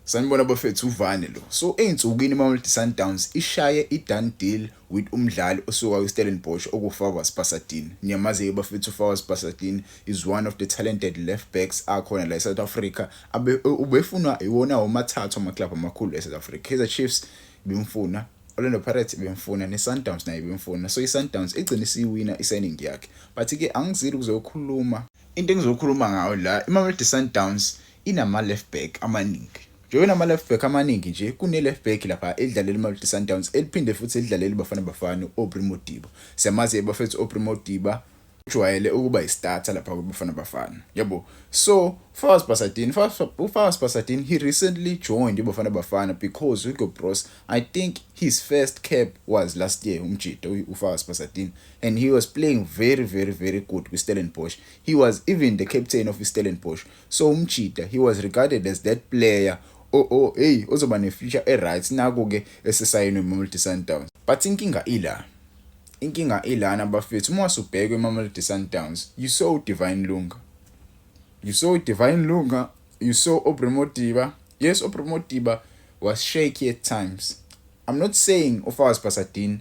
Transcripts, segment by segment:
Sanibona bafethu uvane lo. So ezinsukwini iMamelodi Sundowns ishaye idone deal with umdlali osuka kwiStellenbosch okuFawaz Basadin. Niyamazi-ke bafethu uFawaz Basadin is one of the talented left backs akhona la eSouth Africa. Abe ubefunwa iwona womathathu amaklabhu amakhulu eSouth Africa. Kaizer Chiefs bimfuna, Orlando Pirates bimfuna neSundowns naye bimfuna. So iSundowns igcine isiyiwina isigning yakhe. But ke angizili ukuzokhuluma. Into engizokhuluma ngayo la iMamelodi Sundowns inama-left back amaningi njengoba inama-left back amaningi nje kune-left back lapha elidlalela imamelodi sundowns eliphinde futhi elidlalela ibafana bafana u-aubrey modiba siyamazi-ke bafethu u-aubrey modiba ujwayele ukuba yistarter lapha kwibafana bafana yabo so fas basadin ufas basadin he recently joined ibafana bafana because hugo bros i think his first cap was last year umjita ufas basadin and he was playing very very very good kwistellenbosch he was even the captain of istellenbosch So umjita he was regarded as that player o o hey ozoba ne future e right naku ke esesayinwe Mamelodi Sundowns. But inkinga ila. Inkinga ilana bafethu uma wasubhekwe Mamelodi Sundowns you saw Divine Lunga. You saw Divine Lunga, you saw Aubrey Modiba. Yes, Aubrey Modiba was shaky at times. I'm not saying uFawaz Pasadine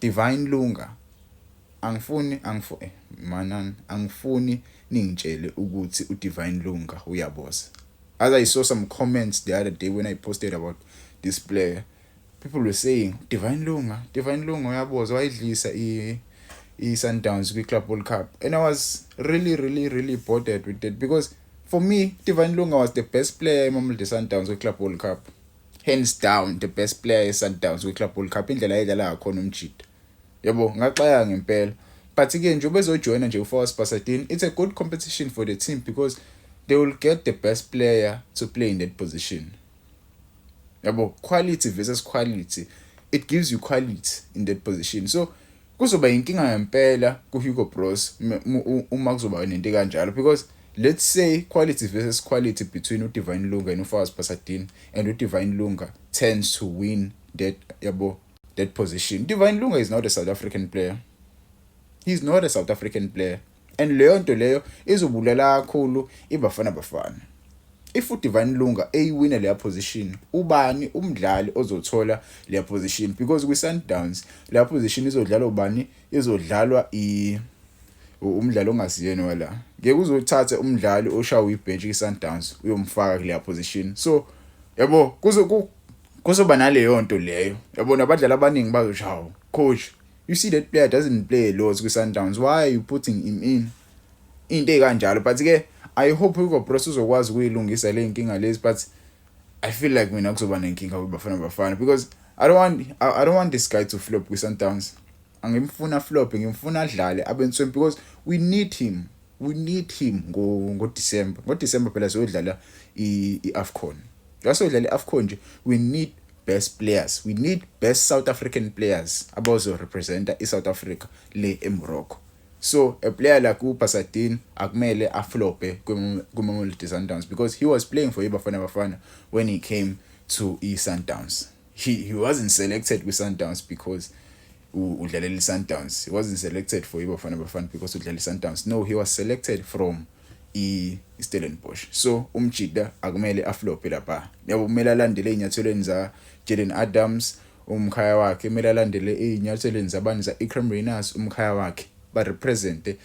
Divine Lunga, Angifuni angifu eh manan angifuni ningitshele ukuthi uDivine Lunga uyaboza. As I saw some comments the other day when I posted about this player, people were saying Divine Lunga, Divine Lunga uyaboza wayidlisa i i-Sundowns kwi-Club World Cup and I was really really really bothered with that because for me Divine Lunga was the best player eMamelodi Sundowns kwi-Club World Cup. hands down the best player yeSundowns kwiClub World Cup indlela ayedlala ngakhona umjita yabo ngaxaya ngempela but ke nje ubezojoyina nje uFawas Basadin it's a good competition for the team because they will get the best player to play in that position yabo quality versus quality it gives you quality in that position so Kuzoba inkinga ngempela kuHugo Broos uma kuzoba nento kanjalo because let's say quality versus quality between uDivine Lunga and uFawaz Pasadin and uDivine Lunga tends to win that yabo that position. Divine Lunga is not a South African player. He's not a South African player. and leyo nto leyo izobulala kakhulu ibafana bafana if udivine lunga eyiwina leya position ubani umdlali ozothola leya position because kwi-sundowns leya position izodlalwa ubani izodlalwa i umdlalo ongasiyena wala ngeke uzothatha umdlali oshawa ibhench kwi-sundowns uyomfaka kuleya position so yabo kuzoba naleyo nto leyo yabona abadlali abaningi bazoshawa coach You see that player doesn't play loads kwiSundowns. Why are you putting him in? Into ekanjalo but ke I hope Hugo Broos uzokwazi ukuyilungisa le nkinga lezi but I feel like mina kuzoba nenkinga kwiBafana Bafana because I don't want I, I don't want this guy to flop kwiSundowns. Angimfuna flop, ngimfuna adlale abensweni because we need him. we need him ngo ngo December ngo December phela siyodlala iAfcon la siyodlala iAfcon nje we need best players we need best South African players abazo representa iSouth Africa le eMorocco so a player like uBasadin akumele aflope kuMamelodi Sundowns because he was playing for iBafana Bafana when he came to iSundowns he, he wasn't selected kwi-sundowns because udlalela i-sundowns he wasn't selected for ibafana bafana because udlalela i-sundowns no he was selected from i-stellenbosch so umjida akumele aflophe lapha yabo kumele alandele ey'nyathelweni za-jaden adams umkhaya wakhe kumele alandele ey'nyathelweni zabani za-ecram rainers umkhaya wakhe barepresente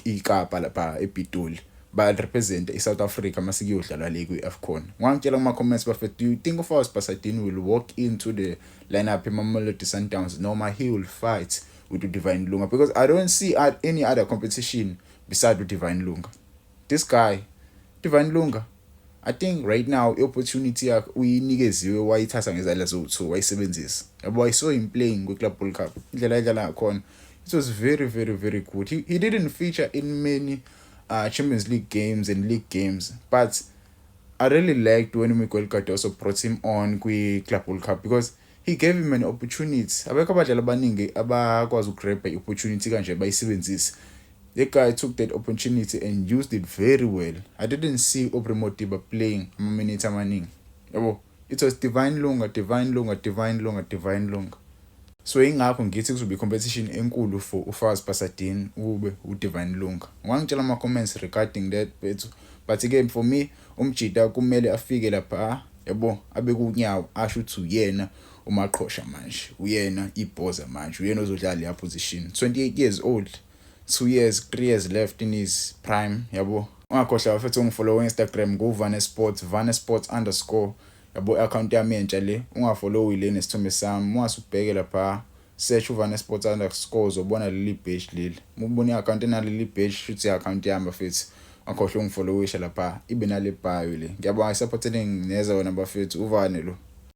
ikapa lapha epitoli barepresente i-south africa uma sikuyodlalwa le kwi-afcon ngangitshela kuma-comments bafethu do you think of us basadini will walk into the lineup emamelodi sundowns noma he will fight with udivine lunga because i don't see any other competition beside udivine lunga this guy divine lunga I think right now i-opportunity yakhe uyinikeziwe wayithatha ngezandla zowu-two wayisebenzisa yabo i saw him playing kwi-club world cup indlela ayidlala ngakhona it was very very very good he, he didn't feature in many uh, champions league games and league games but i really liked when miguel cardoso brought him on kwi-club world cup because He gave him an opportunity. Abekho abadlali abaningi abakwazi ukugrabha i-opportunity kanje bayisebenzise. The guy took that opportunity and used it very well. I didn't see Aubrey Modiba playing ama-minute amaningi. Yabo, it was Divine Lunga, Divine Lunga, Divine Lunga, Divine Lunga. So ingakho ngithi kuzobe i-competition enkulu for uFaz Pasadin ukube uDivine Lunga. Wangitshela ama-comments regarding that bethu. But again for me, Umjita kumele afike lapha yabo abekuwunyawo asho ukuthi uyena umaqhosha manje uyena ibhoza manje uyena ozodlala leya position 28 years old 2 years 3 years left in his prime yabo ungakhohlwa bafethu ungifollow Instagram ku Vane Sports Vane Sports underscore yabo i-account yami entsha le ungafollowi le nesithombe sami ungasubheke lapha Search uVane Sports underscore uzobona leli badge leli. Uma ubona i-account enaleli badge shuthi i-account yami bafethu. Angikhohlwe ungifollowisha lapha ibe nale bio le. Ngiyabonga i-support eningi neza wena bafethu uVane lo.